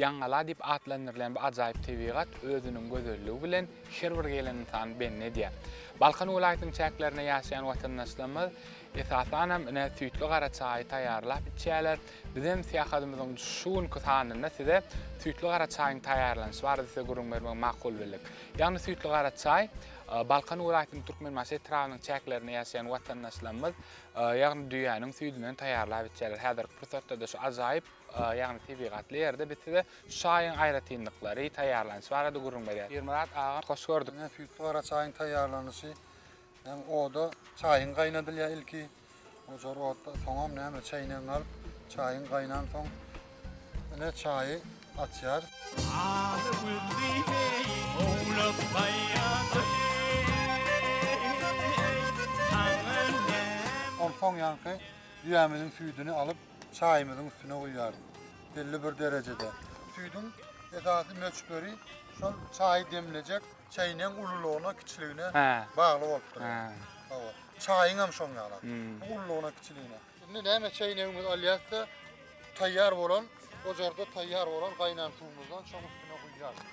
Ýaňgala diýip atlandyrylýan bu ajaýyp tebigat özüniň gözelligi bilen her bir gelen ynsany bendi edýär. Balkan welaýatynyň çäklerinde ýaşaýan watandaşlarymyz, esasanam, ine, süýtli gara çaýy taýýarlap içýärler. Bizem syýahatymyzyň şu günki sanynda size süýtli gara çaýyň taýýarlanyşy barada size gürrüň bermegi makul bildik. Ýagny süýtli gara çaý Balkan welaýatynyň Türkmenbaşy etrabynyň çäklerinde ýaşaýan watandaşlarymyz, ýagny düýäniň süýdünden taýýarlap içýärler. Häzirki pursatda-da şu ajaýyp. ýagny tebigatly ýerde biz size şu çaýyň aýratynlyklary, taýýarlanyşy barada gürrüň berýäs. Pirmyrat aga, hoş gördük. Ine, süýtli gara çaýyň taýýarlanyşy. Hem oda çaýyň gaýnadylýar ilki. Ojar otda, soňam näme, çäýnegiňi alyp, çaýyň gaýnansoň, ine, çaýy açýarys. Aly güzli heý, owlak taýýardy. Onsoň ýaňky düýämiziň süýdüni alyp, çaýymyzyň üstüne guýýarys. Belli bir derejede. Süýdüň esasy möçberi şol çaýy demlejek çäýnegiň ululygyna, kiçiligine bagly bolup dur. Hawa. Çaýyň hem şoň ýaly. Bu ululygyna, kiçiligine. Indi näme çäýnegimizi alýarys-da, taýýar bolan, ojarda taýýar bolan gaýnan suwumyzdan şoň üstüne guýýarys.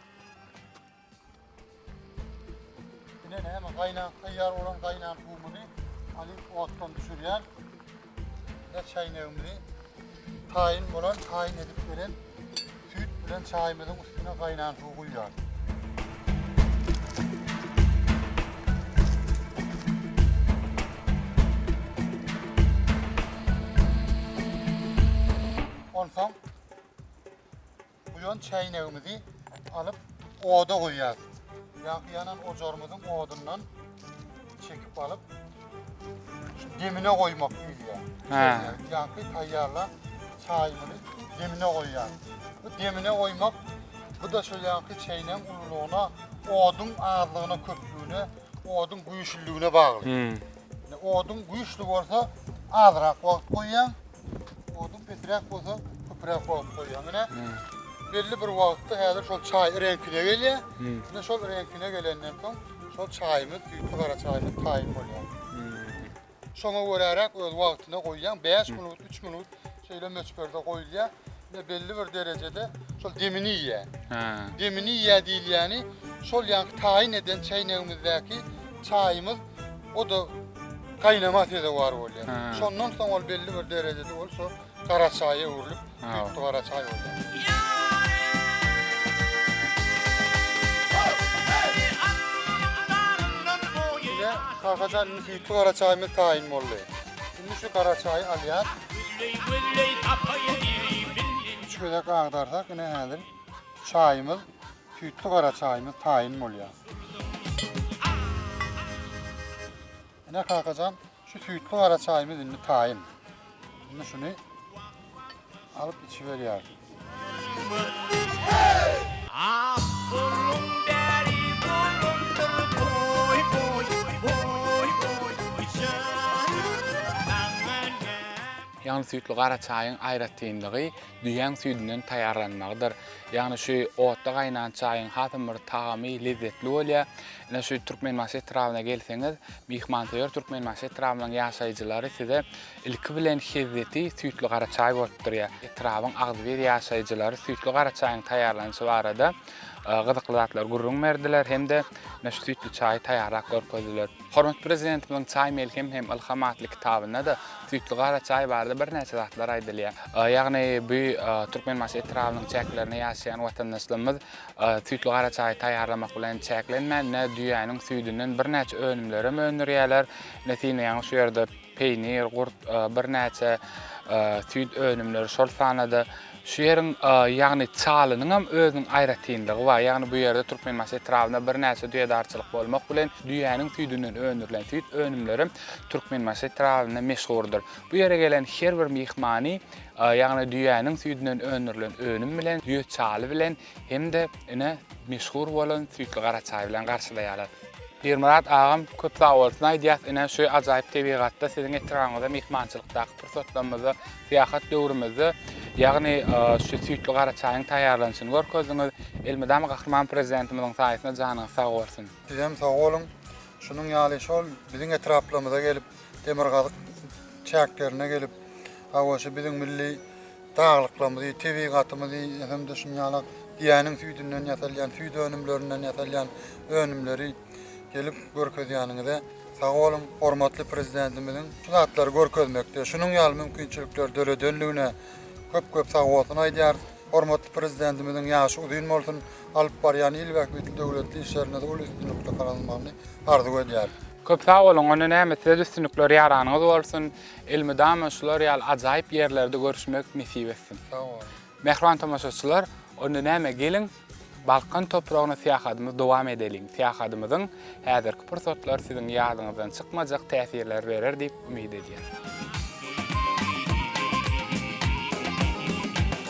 Ine näme gaýnan taýýar bolan gaýnan suwumyzy alyp otdan düşürýän. Ine çaýnagymyzy taýyn bolan taýyn edip beren süýt bilen çaýymyzyň üstüne gaýnan suw guýýarys. Onsoň Buýan çäýnegimizi alyp oda goýýas. Ýaňky ýanan ojarymyzyň odundan çekip alyp şu demine goýmak diýilýär. Hä. Ýaňky taýýarlan çaýymyzy demine goýýas. Bu demine goýmak bu da şol ýaňky çäýnegiň ululygyna, oduň azlygyna, köplügine, oduň güýçlüligine bagly. Ine, oduň güýçli bolsa azrak wagt goýýaň, Odun peträk bolsa, köpräk wagt goýýar. Mine, belli bir wagtda häzir şol çaý reňkine gelýär. Mine şol reňkine gelenden soň şol çaýymyz, süýtli gara çaýymyz taýyn bolýar. Şoňa göräräk öz wagtyna goýýaň, 5 minut, 3 minut şeýle möçberde goýulýar. Ýa belli bir derejede şol demini iýýär. Hä. Demini iýýär diýilýäni şol ýaňky taýyn eden çäýnegimizdäki çaýymyz o da gaýnama sezewar bolýar. Hä. Şondan soň ol belli bir derejede ol şo gara çaýa öwrülip, Hä. süýtli gara çaý bolýar. Ine, Kakajan indi süýtli gara çaýymyz taýyn boldy. Indi şu gara çaýy alýas. Üç gezek agdarsak, ine häzir çaýymyz, süýtli gara çaýymyz taýyn bolýar. Ine kakajan, şu süýtli gara çaýymyz indi taýyn. Indi şuny Alyp içiberýär. Ýagny süýtli gara çaýyň aýratynlygy düýäň süýdünden taýýarlanmagydyr. Ýagny şu otda gaýnan çaýyň hasam bir tagamy, lezzetli bolýar. Ine şu Türkmenbaşy etrabyna gelseňiz, myhmansöýer Türkmenbaşy etrabynyň ýaşaýjylary size Ilki bilen hezzeti süýtli gara çaý bolup durýar. Etrabyň agzybir ýaşaýjylary süýtli gara çaýyň taýýarlanyşy barada gyzykly zatlary gürrüň berdiler hem-de ine şu süýtli çaýy taýýarlap görkezdiler. Hormatly Prezidentimiziň Çaý melhem hem ylham atly kitabynda-da süýtli gara çaý barada birnäçe zatlar aýdylýar. Ýagny bu Türkmenbaşy etrabynyň çäklerinde ýaşaýan watandaşlarymyz süýtli gara çaýy taýýarlamak bilen çäklenmän, ine düýäniň süýdünden birnäçe önümlerem öndürýärler. Ine sine ýaňy şu ýerde Peýnir, gurt, birnäçe süýt önümleri, şol sanda-da şu ýeriň, ýagny Çalynyň hem özüniň aýratynlygy bar. Ýagny bu ýerde Türkmenbaşy etrabynda birnäçe düýedarçylyk bolmak bilen, düýäniň süýdünden öndürilen süýt önümleri hem Türkmenbaşy etrabynda meşhurdyr. Bu ýere gelen her bir myhmany, ýagny düýäniň süýdünden öndürilen önüm bilen, düýe çaly bilen Hem-de ine meşhur bolan süýtli gara çaý bilen garşylaýarlar. Pirmyrat agam köp sag bolsun aýdýas ine şu ajaýyp tebigatda siziň etrabyňyzda myhmançylykdaky pursatlarymyzda syýahat döwrümizde ýagny şu süýtli gara çaýyň taýýarlanyşyny görkezdiňiz. Elmydama Gahryman Prezidentimiziň saýasynda janyňyz sag bolsun. Sizem sag boluň. Şunuň ýaly şol biziň etraplarymyza gelip, demirgazyk çäklerine gelip, hawa şu biziň milli Daglyklarymyzy, tebigatymyzy hem-de şunuň ýaly düýäniň süýdünden ýasalýan, süýt önümlerinden ýasalýan önümleri gelip görkezýäniňize sag boluň. Hormatly Prezidentimiziň şu zatlary görkezmekde, şunuň ýaly mümkinçilikleri döredenligine köp-köp sagbolsun aýdýarys. Hormatly Prezidentimiziň ýaşy uzyn bolsun, alyp barýan il bähbitli döwletli işlerinde-de uly üstünlikli gazanylmagyny arzuw edýäris. Köp sag boluň, onda näme, size-de üstünlikler ýaranyňyz bolsun! Elmydama şular ýaly ajaýyp ýerlerde görüşmek nesip etsin. Sag boluň. Mähriban tomaşaçylar, onda näme geliň Balkan topragyna syýahatymyzy dowam edeliň. Syýahatymyzyň häzirki pursatlary siziň ýadyňyzdan çykmajak täsirleri berer diýip umyt edýäris.